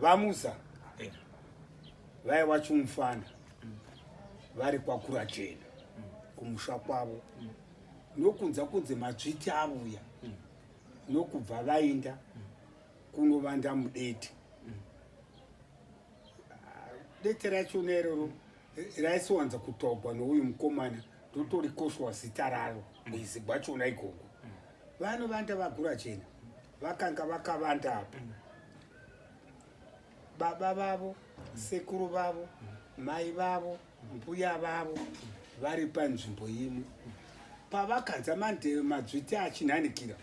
vamusa vaya wacho mufana vari kwakura chena kumusha kwavo nokunza kunze madzviti avuya nokubva vainda kunovanda mudete dete racho nerero raisiwanza kutogwa nouyu mukomana ndotorikoshwa zita raro muizigwa chona ikoko vanovanda vagura chena vakanga vakavanda apa baba vavo sekuru vavo mai vavo mbuya vavo vari panzvimbo imwe pavakanza mandeve madzviti achinhanikira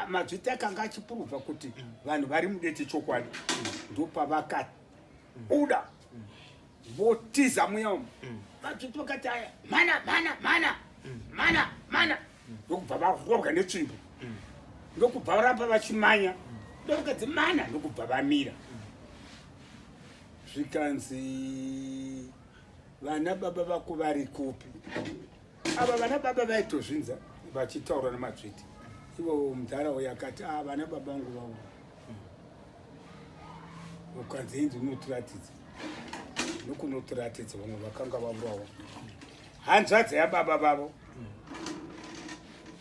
madzviti akanga achipuruvha kuti vanhu vari mudete chokwadi ndopavakabuda votiza muya umu vadzoti vakati aya mana mana mana mana mana ndokubva varobwa netsvimbo ndokubva varamba vachimanya ndovakadzi mana ndokubva vamira zvikanzi vana baba vako vari kupi ava vana baba vaitozvinza vachitaura nemadzviti ivo mudhara uyo akati a ah, vana baba vangu vavo ukanzi inzi unotiratidza nokunotiratidza vamwe vakanga vavurawa hanzvadzi yababa vavo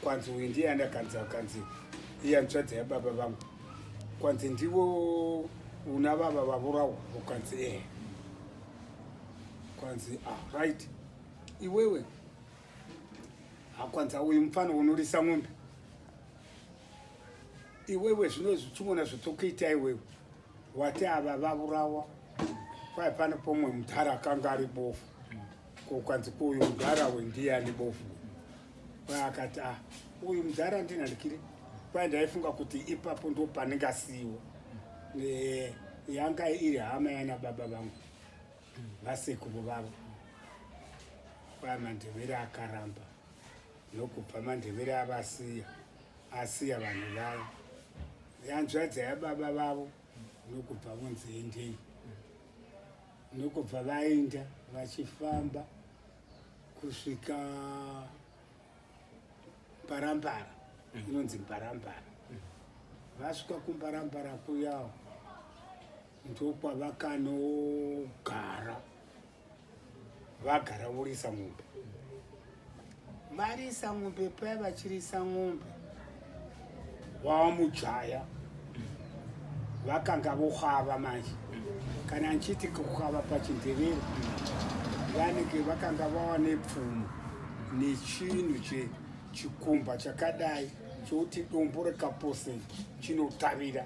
kwanzi uyu ndiye andakanzi akanzi iye hanzvadzi yababa vangu kwanzi ndivo una vava vavurawa ukanzi ee eh. kwanzi ah, right iwewe hakwanzi auyu mufana unorisa n'ombe iwewe zvino zvichimona zvotokuita iwewe wati ava vavurawa kwai pane pomwe mudhara akanga ari bofu ko kwanzi kuuyu mudhara we ndiye ane bofu kwai akati a ah, uyu mudhara ndina ndikiri kwai ndaifunga kuti ipapo ndo panenge asiyiwa yanga iri hama yana baba vangu vasekuru vavo kwai mandevere akaramba nokubva mandevere avasiya asiya vanhu vavo yanzvadza yababa vavo nokubva vonzi endei nokubva vaenda vachifamba kusvika mbarambara mm. inonzi mbarambara mm. vasvika kumbarambara kuyawo ndokwavakanogara vagara vorisa mombe varisa mombe paya vachirisa mombe vamujaya vakanga vohwava manje kana ndichiti kuhwava pachindevero vanenge vakanga vava nepfumo nechinhu che chikumba chakadai chokuti dombo rekaposen chinotavira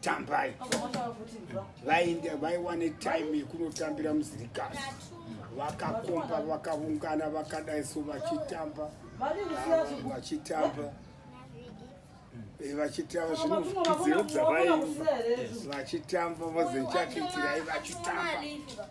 tambai vaiwane time yekunotambira muzirikasi vakakomba vakaungana vakadai so vachitamba vachitamba eh, vachitamba zvinozvidziyo dzavai vachitamba vozenchakiitirai vachitamba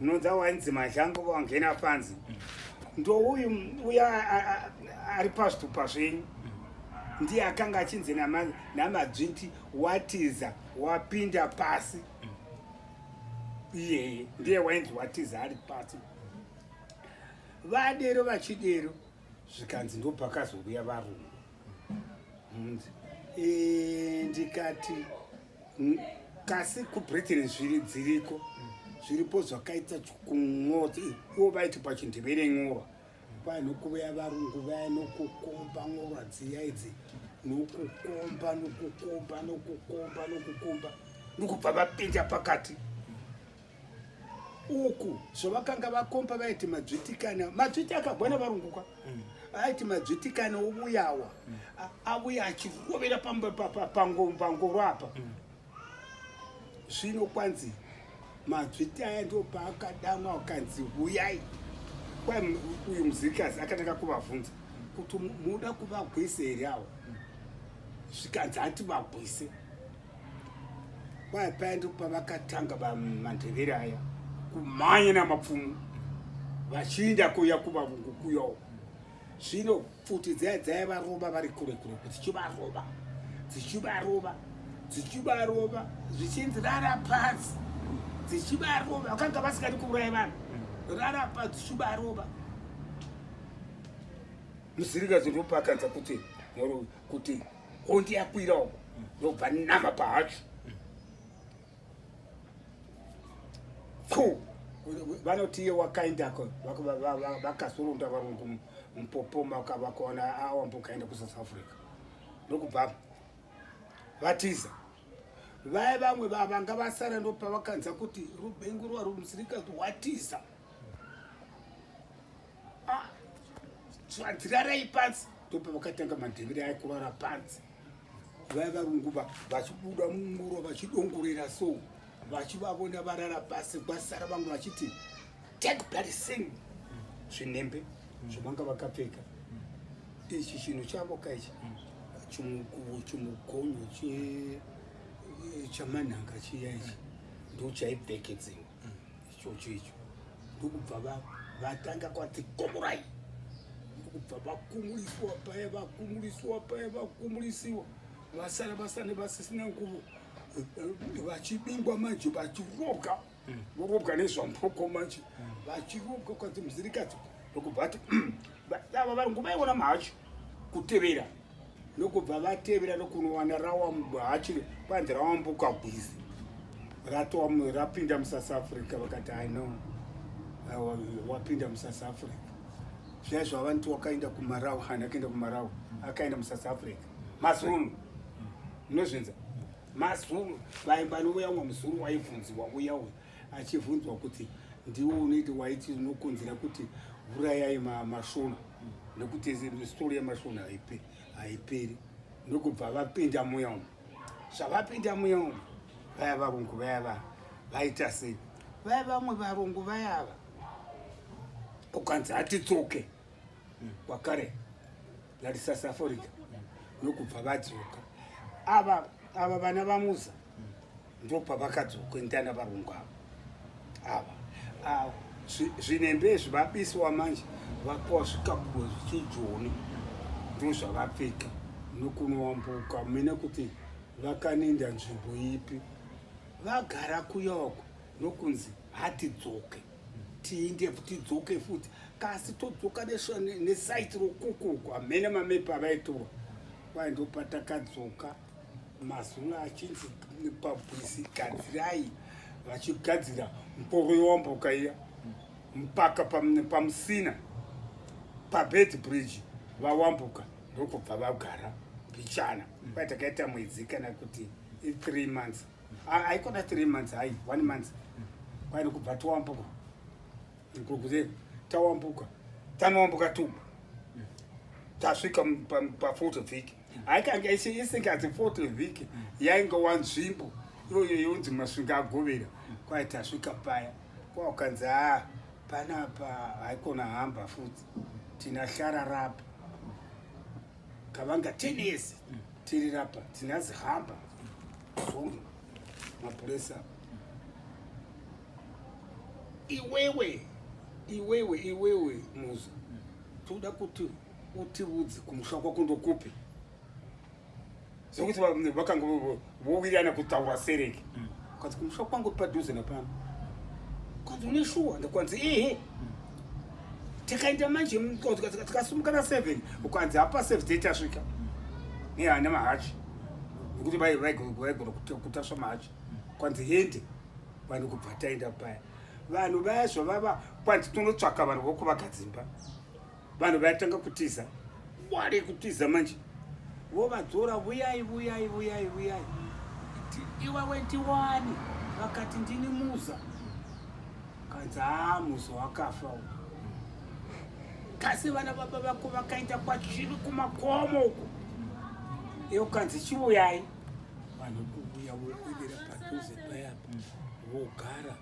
unonza wainzi mazhango vangena panzi ndouyu uya ari pazvitupa zvenyu ndiye akanga achinzi namadzvinti watiza wapinda pasi iyeye ndiye wainzi watiza ari pasi vadero vachidero zvikanzi ndopakazouya varume ndikati mm, kasi kubritain zviri dziriko zviripo zvakaita kun'ota ivo vaiti pachindevere n'ora vanokuveya varungu vaya nokukomba n'ora dziya idzi nokukomba nokukomba nokukomba nokukomba nokubva vapinda pakati uku zvavakanga vakomba vaiti madzvitikane madzviti akagwana varunguka mm. aiti madzvitikane ovuyawa mm. avuya achirovera pangoro apa mm. zvino kwanzi madzviti aya ndo paakadamwa akanzi vuyai kwai uyu muzirikazi akatanga kuvavhunza kuti muda kuvagwise here awo zvikanzi hati vagwise kwaya paya ndipo pavakatanga vamandevere aya kumhanya namapfumo vachiinda kuya kuvavungu kuyawo zvino pfuti dzaya dzaya varova vari kure kure dzichivarova dzichivarova dzichivarova zvichinzi rara pasi dzichivarova vakanga vasingadi kuuraya vanhu rara pasi dzichivarova musirikazi ndopakanza kuti kuti honde yakwira uko ndobva nama pahacho pfu vanoti iye wakaendako vakasurunda varungu mupopoma vakaona awamba ukaenda kusouth africa ndokubva vatiza vaye vamwe vavanga vasara ndopavakanza kuti rubengurwa rumusirikazi watiza ah, zvadzirarai pansi ndopa vakatanga madhevere ayo kurara pansi vaya varungu vachibuda munguro vachidongorera so vachivavona varara pasi kwasara vamwe vachiti take bloody sing zvinembe zvavanga vakapfeka ichi chinhu chavo ka ichi chimukuvo chimugonyo chamanhanga chiya ichi ndochaipfekedzeiwa ichocho icho ndokubva vatanga kwati komorai ndokubva vakumuliswa paya vakumuliswa paya vakumulisiwa vasara vasane vasisina nguvo vachibingwa manje vachirobwa hmm. vorobwa nezvamboko manje hmm. vachirobwa kwati muzirikati ndokubva ati hmm, dava vari nguvaiona macho kutevera nokubva vatevera nokunowana rawamhachi kwanzi rawambuka gwizi ratowa rapinda musouth africa vakati i know wapinda musouth africa zviya zvavanti wakaenda kumarawa hana akaenda kumarawa akaenda musouth africa mazulu munozvinza mazulu vaimba nouya umwe muzulu waivhunziwa uya uya achivhunzwa kuti ndiwo unoiti waiti unokonzera kuti vurayai masvona nekuti stori yemasvona haiperi ndokubva vapinda muya umu zvavapinda muya umu vaya varungu vaya va vaita sei vaya vamwe varungu vaya ava ukanzi hatitsoke kwakare hmm. vari south africa nokubva vadzoka ava ava vana vamuza ndopavakadzoka ndana varungu ava ava ah, zvinembe izvi vabisiwa manje vapiwa zvikabudo zvichijoni ndozvavapfeka nokunoambuka mine kuti vakaninda nzvimbo ipi vagara kuyoko nokunzi hatidzoke tiinde futi dzoke futi kasi todzoka nesaiti rokuku uku hamene mamepi avaitorwa kwai ndopatakadzoka mazuna achinzi pabwisi gadzirai vachigadzira mporo yowambuka iya mpaka pamusina pabed bridge vawambuka ndokubva vagara mbichana kwai takaita mwedzi kana kuti i3 months haikona three months hai one month kwaine kubva towambuka kukuze tawambuka tanowambuka tu tasvika pafoto vhiki haikange isingazi foto vhiki yainge wanzvimbo iyoyo yonzi masvinga agovera kwai tasvika paya kwaukanzi ha ah, panapa haikona hamba futi tina hlararapa kavanga tenesi tiri rapa tinazi hamba zvonge mapuresa iwewe iwewe iwewe muzi toda kuti utiudze kumusha kwako ndokupi zvekuti vakanga vowirirana kutaura sereki mm. kwanzi kumusha kwangu padhuze napano kwanzi une shuwa ndakwanzi ehe mm. takaenda manje tikasumuka na seven ukwanzi hapa seven day tasvika mm. nehana mahachi nekuti vaigona kutasva mahachi kwanzi hende vanhu kubva taenda paya vanhu vaya zvavava kwanzi tonotsvaka vanhu vokuvakadzimba vanhu vaitanga kutiza wari kutiza manje vovadzora vuyai vuyai vuyai vuyai iwawe ndiwani vakati ndini muza kanzi haa muza wakafa u kasi vana baba vako vakaenda kwachiri kumakomo uko iyo kanzi chivuyai vanhu kuvuya vokwidira padhuze payapa vogara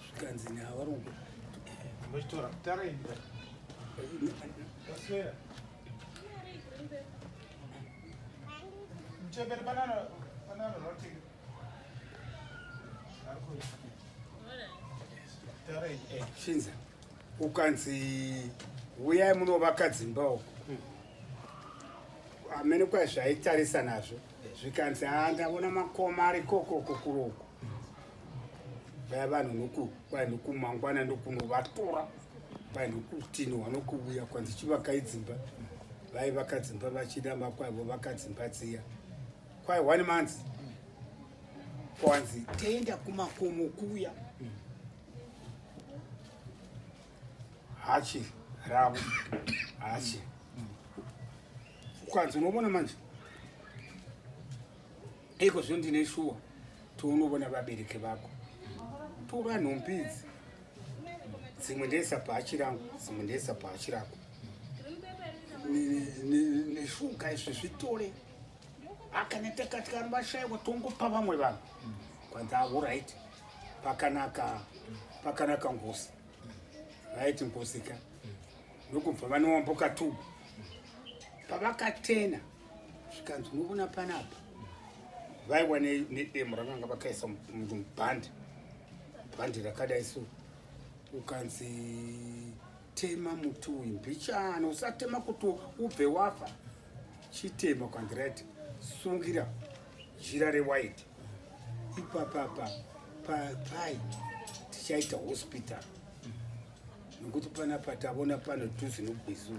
zvikanzi neavaruko mochitora kutara ini aswera mchembere banana banana rotting shinza ukanzi uyai munovaka dzimba uko hmm. amene kwai zvaitarisa nazvo zvikanzi haa ndavona makoma ari kokoko kuroko vaya vanhu noku kwai nokumangwana ndokunovatora kwai nokutino vanokuuya kwanzi chivakai dzimba vai vakadzimba vachida makwaivo vakadzimba dziya kwai one month kwanzi tenda kumakomo kuya hachi ravo hachi kwanzi unoona manje Iko zvo ndine shuwa tounovona vabereki vako tora nhumbi idzi dzimwe ndeisa bhachi rangu dzimwe ndeisa bhachi rako neshuga izvi zvitore akana takati kana vashaiwa tongopa vamwe vanhu kwanzi avo right pakanaka pakanaka ngozi vaiti ngozi ka nokubva vanowamboka tubu pavakatena zvikanzi unobona panapa vaiwa nedemo rakanga vakaisa munhu mubhandi bhandi rakadai so ukanzi tema muti uyu mbichana usatema kuti ubve wafa chitema ukanzi right sungira jira rewhite ipapapa papai tichaita hospital nekuti panapa tavona pano tuzinogwizuu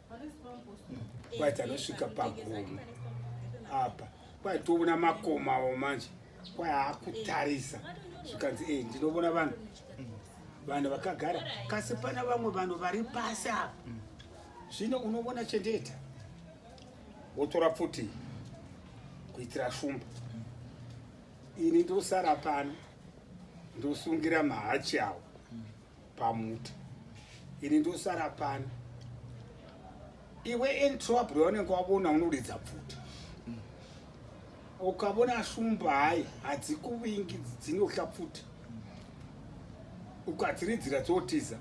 kwaita anosvika pagumi apa kwaitoona makomawo manje kwaakutarisa zvikanzi e ndinovona vanhu vanhu vakagara kasi pana vamwe vanhu vari pasi apa zvino unovona chendeeta wotora pfuti kuitira shumba ini ndosara pano ndosungira mahachi awo pamuti ini ndosara pano iwe entrobry wanenge wavona unoridza pfuti ukavona shumba hayi hadzikuvingi dzinohla pfuti ukadziridzira dzotiza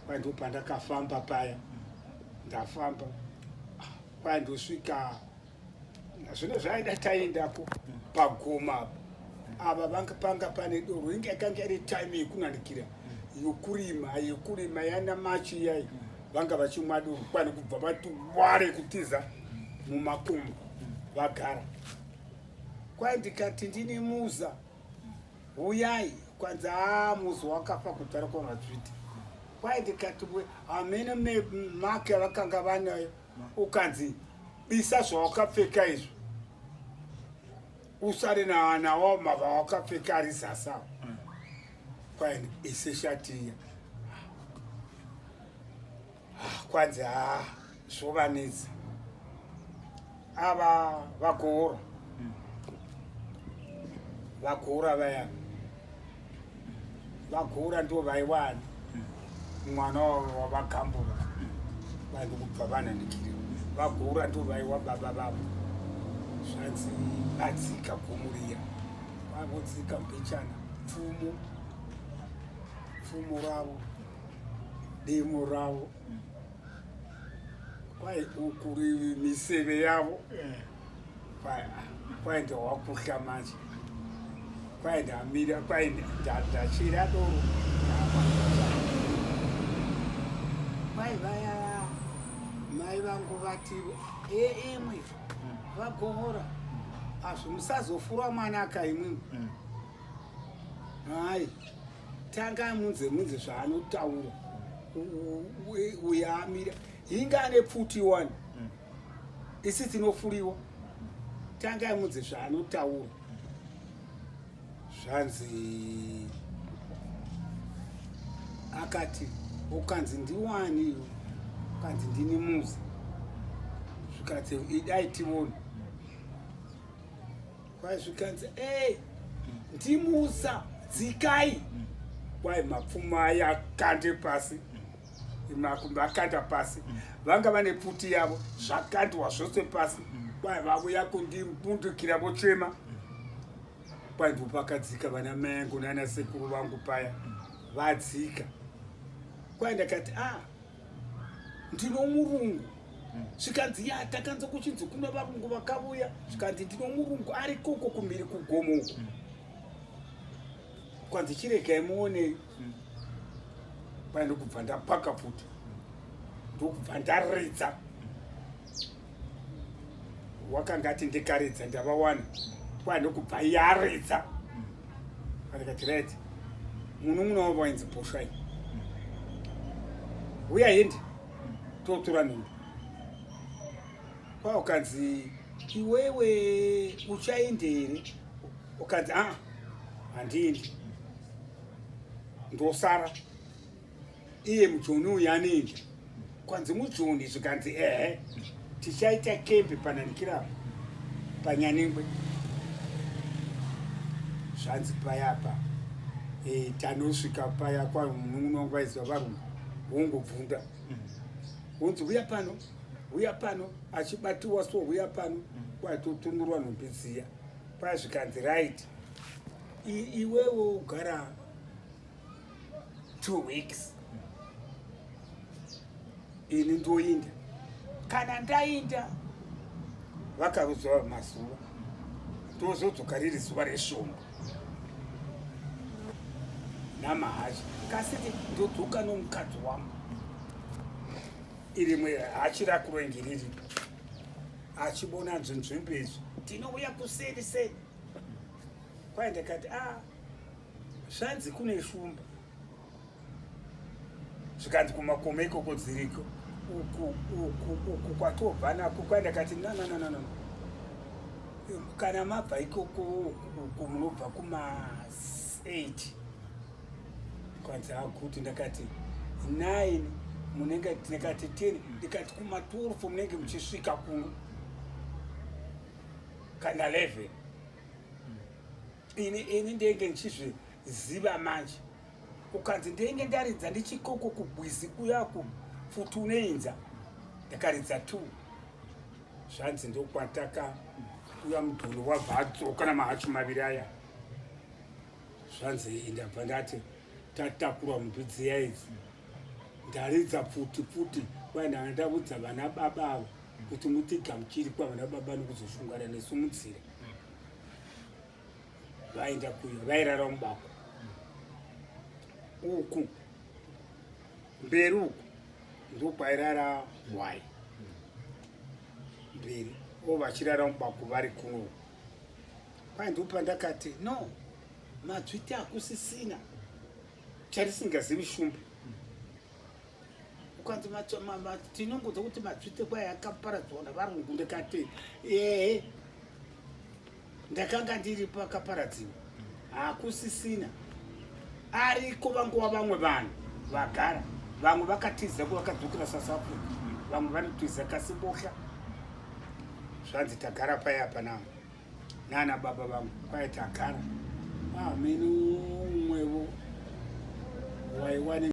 kwaindo pandakafamba paya ndafamba kwaindo svika zvino zvaida taendako pagoma ava vanga panga pane doro inge yakanga iri time yekunanikira yokurima yokurima yana machi iyayi vanga vachimwa doro kwani kubva vati ware kutiza mumakomo vagara kwai ndikati ndine muza huyai kwanzi haa muza wakafa kutara kwavazviti kwai ndikati hamene make avakanga vanayo ukanzi bisa zvawakapfeka izvo usare nawo mava wakapfeka ari zasa mm. kwaini ise shatiya ah, kwanzi ha ah, zvovanetsa ava vakuura mm. vakuura vayani vakura ndo vaiwani mwana wavagambura vanhu kubva vanandikiriwa vakura ndo vaiwa baba vavo zvanzi vadzika gomuriya vavodzika mbechana pfumo pfumo ravo demo ravo kwai ukuri miseve yavo yeah. kwaye ndawakuhla manje kwaye ndamira kwaye ndachira doro mai vaya mai vangu vati eemwe eh, eh, vagohora azvo musazofura mwana akaimwimwe mm. hai tanga munze munze zvaanotaura uyamira inga ane pfuti wani isi tinofuriwa tanga amudze zvaanotaura zvanzi akati ukanzi ndiwani ukanzi ndini muzi zvikanzi idai tione kwai zvikanzi ey ndimusa dzikai kwai mapfuma yakande pasi makumbi akanda pasi mm. vanga vane pfuti yavo zvakandwa zvose pasi mm. kwai vavuya kundibundukira vochema mm. kwai ndo pakadzika vana mai angu nana sekuru vangu paya vadzika kwai ndakati a ah, ndino murungu zvikanzi ya takanza kuchinzi kuna varungu vakavuya zvikanzi ndino murungu ari koko kumhiri kugomo uku kwanzi chiregai muonei mm. pana ndokubva ndapaka futi ndokubva ndaridza wakanga ati ndikaridza ndavawana pana ndokubva yaridza andikati red munun'una wavo wainzi boshwai huya hindi totora nhumbi kwaukanzi iwewe uchaende here ukanzi a ah, handiendi ndosara iye mujoni uyu anoenda kwanzi mujoni zvikanzi ehe tichaita kembe pananikirapa panyanengwe zvanzi payapa e, eh, tanosvika paya kwamunun'una wangu vaiziva varungu wongobvunda wonzi uya pano uya pano achibatiwa so uya pano kwatotunurwa nhumbi dziya Pazvikanzi right iwewo ugara two weeks ini ndoinda kana ndainda vakarudzwa mazuva tozodzoka riri zuva reshomba namahasha kasiti ndodzoka nomukadzi wangu irimwe hachi rakurengi riripo achibona nzvenzvimbo izvi tinouya kuseri sei kwaye ndikati a ah, zvanzi kune shumba zvikanzi kumakoma ikoko dziriko uku uku uku kwatobva nako kwaye ndikati nanananana kana mabva ikoko uku munobva kuma 8 kwanzi hakuti ndakati 9 munenge ndikati 10 ndikati kuma 12 munenge muchisvika kuno kana 11 ini ini ndenge ndichizviziva manje ukanzi ndenge ndaridza ndichikoko kubwizi kuya kufuti uneinza ndakaridza two zvanzi ndokwataka uya mudhuri wabva adzoka namahachu maviri aya zvanzi ndabva ndati tatakura mntu dziya idzi ndaridza pfuti pfuti kwai ndanga ndavudza vana baba avo kuti mutigamuchiri kwavana baba nokuzosungana nesu munzira vaenda kuyo vairara mubako uku mberi uku ndokwairara hwai mberi o vachirara mubako vari kuno kwai ndopandakati no madzviti akusisina charisingazivi shumba ukanzi tinongoza kuti madzvite kwai akaparadzwa navarungu ndikati ehe ndakanga ndiripo akaparadziwa hakusisina ariko vangova vamwe vanhu vagara vamwe vakatiza ko vakadzokera south africa vamwe vanotiza kasi bohla zvanzi tagara paye apa navo nana baba vangu kwaye tagara amene ah, umwevo waiwane